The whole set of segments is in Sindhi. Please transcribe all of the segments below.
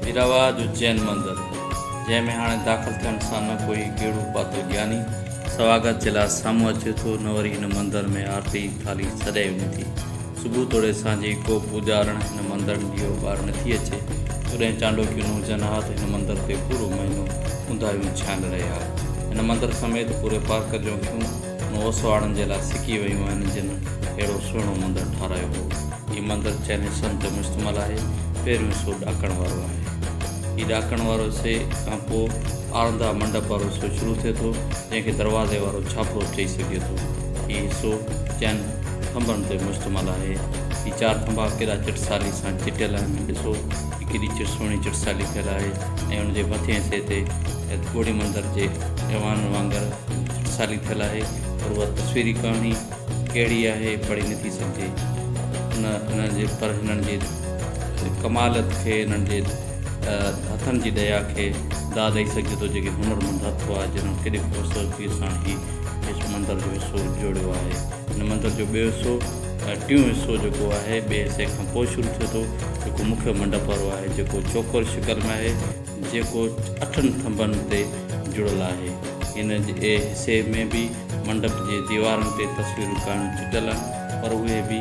هيراوا جو جين مندر جنهن ۾ هاڻي داخل ٿيڻ سان نه ڪوئي ڪهڙو پاتو جياني سواگت جي لاء سامهون اچي ٿو نه وري هن مندر ۾ آرتي ٿالهي سجائي وڃي ٿي صبح توڙي سانجهي ڪو پوڄارڻ هن مندر ڏيئو ٻار نٿي اچي توڏهن چانڊوڪيون نه هجن ها ته هن مندر تي پورو مهينو اونداهيون ڇانيل رهي ها هن مندر سميت پوري پارڪ جون اکيون ان اوسواڙن جي لاء سڪي ويون آهن جن اهڙو سهڻو مندر ٺارايو هو. هي مندر چئني سن تي مشتمل آهي. پهريون حصو ڏاڪڻ وارو آهي. هي ڏاڪڻ وارو حصي کان پوء آرندا منڊپ وارو حصو شروع ٿئي ٿو جنهن کي دروازي وارو ڇاپرو چئي سگهجي ٿو. هي حصو چئن ٿنڀن تي مشتمل آهي. هي چار ٿنڀا ڪيڏا چٽسالي سان چٽيل آهن ڏسو هي ڪيڏي سهڻي چٽسالي ٿيل آهي ۽ ان جي مٿين حصي تي گهوڙي مندر جي ايوان وانگر سالي ٿيل آهي پر اها تصويري ڪهاڻي ڪهڙي آهي پڙهي نٿي سگهجي ان انهن جي پر هنن جي ڪمال کي هنن جي هٿن جي ڏيا کي داد ڏئي سگهجي ٿو جيڪي هنر مند هٿ هئا جنهن ڪيڏي خوبصورتي سان هي مندر جو حصو جوڙيو آهي هن مندر جو ٻيو حصو ٽيون حصو جيڪو آهي ٻئي حصي کان پوء شروع ٿيو ٿو جيڪو مکيو منڊپ وارو آهي جيڪو چوڪور شڪل ۾ آهي جيڪو اٺن ٿنڀن تي جڙيل آهي. هن جي حصي ۾ به منڊپ جي ديوارن تي تصويرون ڪانه چٽيل آهن، پر اهي به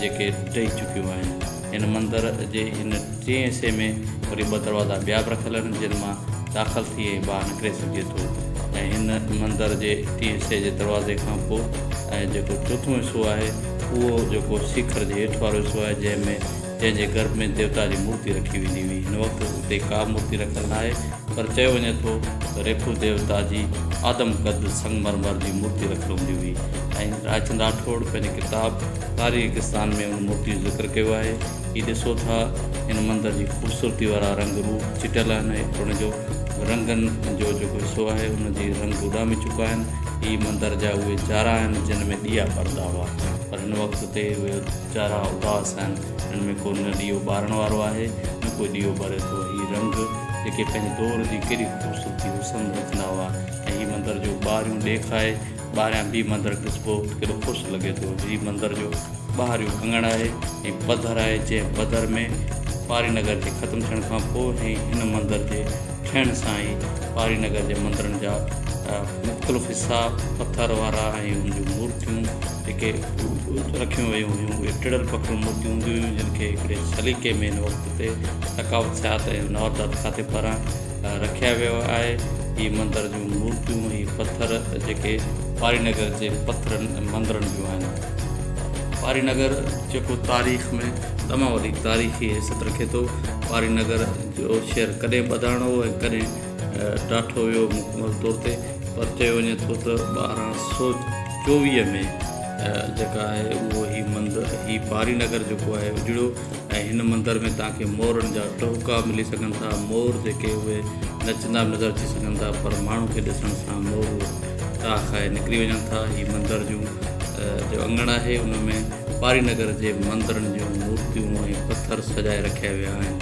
جيڪي ڊهي چڪيون آهن. هن مندر جي هن ٽئين حصي ۾ وري ٻه دروازا ٻيا به رکيل آهن، جن مان داخل ٿي ۽ ٻاهر نڪري سگهجي ٿو ۽ هن مندر جي ٽئين حصي جي دروازي کان پوء ۽ جيڪو چوٿون حصو آهي، اهو جيڪو سيکر جي هيٺ وارو حصو آهي، جنهن ۾ جنهن جي گرڀ ۾ ديوتا جي مورتي رکي ويندي هئي. هن وقت اتي ڪا به مورتي رکيل ناهي پر چيو وڃي ٿو ته ريکو ديوتا جي آدم قد سنگ مرمر جي مورتي رکيل هوندي هئي ۽ رائچند راٺوڙ پنهنجي ڪتاب تاريخستان ۾ ان مورتي جو ذڪر ڪيو آهي. هي ڏسو ٿا هن مندر جي خوبصورتي وارا رنگ روپ چٽيل آهن ۽ اترڻ جو رنگن جو جيڪو حصو آهي ان جي رنگ اڏامي چڪا آهن. هي مندر جا اهي جارا آهن جن ۾ ڏيئا ٻرندا هئا پر هن وقت اتي اهي چارا اداس آهن، هن ۾ ڪو نه ڏيئو ٻارڻ وارو آهي، نه ڪو ڏيئو ٻري ٿو. هي رنگ، جيڪي پنهنجي دور جي ڪيڏي خوبصورتي حسن رکندا هئا ۽ هي مندر جو ٻاهريون ڏيک آهي، ٻاهريان به مندر ڏسبو ته ڪيڏو خوش لڳي ٿو. هي مندر جو ٻاهريون اڱڻ آهي ۽ پڌر آهي، جنهن پڌر ۾ پاري نگر جي ختم ٿيڻ کان پوء ۽ هن مندر جي ٺهڻ سان ئي پاري نگر جي مندرن جا مختلف حصا پٿر وارا ۽ ان جون مورتيون، جيڪي رکيون ويون هيون اهي ٽڙيل پکڙيون مورتيون هونديون هيون جن کي هڪڙي سليقي ۾ هن وقت تي تقاوت سياحت ۽ نوردات کاتي پاران رکيا ويو آهي هي مندر جون مورتيون هي پٿر جيڪي پاري نگر جي پٿرن ۽ مندرن جون آهن پاري نگر جيڪو تاريخ ۾ تمام وڏي تاريخي حيثيت رکي ٿو پاري نگر جو شهر ڪڏهن ٻڌائڻو هو ۽ ڪڏهن ڊاٺو ويو مڪمل طور تي پر چيو وڃي ٿو ته ٻارهن سو چوويهه ۾ جيڪا آهي اهو هي مندر هي پاري نگر جيڪو آهي اجڙو ۽ هن مندر ۾ توهان کي مورن جا ٽهڪا ملي سگهن ٿا مور جيڪي اهي نچندا به نظر اچي سگهن ٿا پر ماڻهو کي ڏسڻ سان مور ٽاهه کائي نڪري وڃن ٿا هي مندر جون جو اڱڻ آهي ان ۾ پاري نگر جي مندرن جون مورتيون ۽ پٿر سجائي رکيا ويا آهن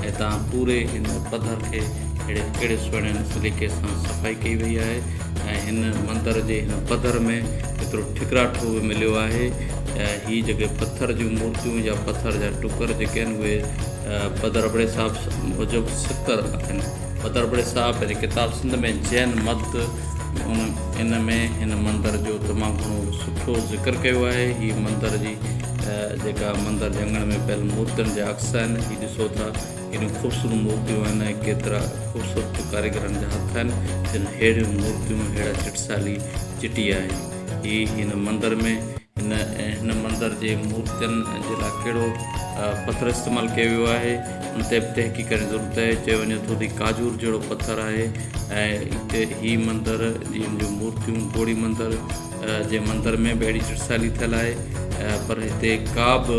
۽ توهان پوري هن پڌر کي اهڙي ڪهڙي سهڻي سليقي سان صفائي ڪئي وئي آهي ۽ هن مندر جي هن پڌر ۾ ايترو ٺڪراٺو به مليو آهي ته هي جيڪي پٿر جون مورتيون يا پٿر جا ٽڪر جيڪي آهن اهي پڌر ابڙي صاحب موجب سڪر آهن پڌر ابڙي صاحب پنهنجي ڪتاب سنڌ ۾ جين مت ان ان ۾ هن مندر جو تمام گهڻو سٺو ذڪر ڪيو آهي هي مندر جي جيڪا مندر جي اڱڻ ۾ پيل مورتين جا عڪس آهن هي ڏسو ٿا ڪيڏيون خوبصورت مورتيون آهن ۽ ڪيترا خوبصورت ڪاريگرن جا هٿ آهن جن ههڙيون مورتيون ههڙا چٽسالي چٽيا آهن. هي هن مندر ۾ هن هن مندر جي مورتين جي لاء ڪهڙو پٿر استعمال ڪيو ويو آهي ان تي به تحقيق ڪرڻ جي ضرورت آهي چيو وڃي ٿو ته هي ڪاجور جهڙو پٿر آهي ۽ هتي هي مندر جي مورتيون گوڙي مندر جي مندر ۾ به اهڙي چٽسالي ٿيل آهي پر هتي ڪا به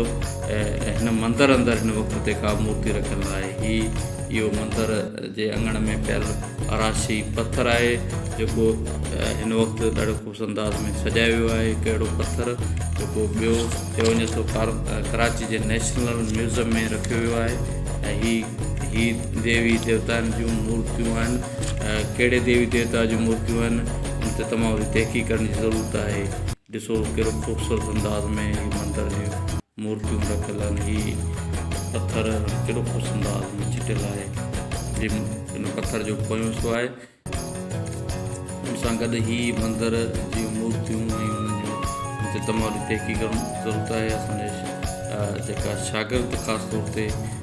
هن مندر اندر هن وقت تي ڪا مورتي رکيل نه آهي هي اهو مندر جي اڱڻ ۾ پيل اراشي پٿر آهي جيڪو هن وقت ڏاڍو خوبصورت انداز ۾ سجايو ويو آهي هڪ اهڙو پٿر جيڪو ٻيو چيو وڃي ٿو ڪراچي جي نيشنل ميوزم ۾ رکيو ويو آهي ۽ هي هي ديوي ديوتائن جون مورتيون آهن ڪهڙي ديوي ديوتا جون مورتيون آهن ان تي تمام وڏي تحقيق ڪرڻ جي ضرورت آهي ڏسو ڪهڙو خوبصورت انداز ۾ هي مندر جي مورتيون رکيل آهن هي پٿر ڪهڙو خوبصورت انداز ۾ چٽيل آهي جي ان پٿر جو پويون حصو آهي ان سان گڏ هي مندر جي مورتيون ۽ انهن جو ان تي تمام وڏي تحقيق ڪرڻ جي ضرورت آهي اسان جي جيڪا شاگرد خاص طور تي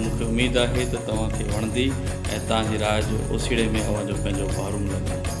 مون کي اميد آهي ته توهان کي وڻندي ۽ تان جي راء جو اوسيڙي ۾ اوهان جو پنهنجو پهرو ملندو.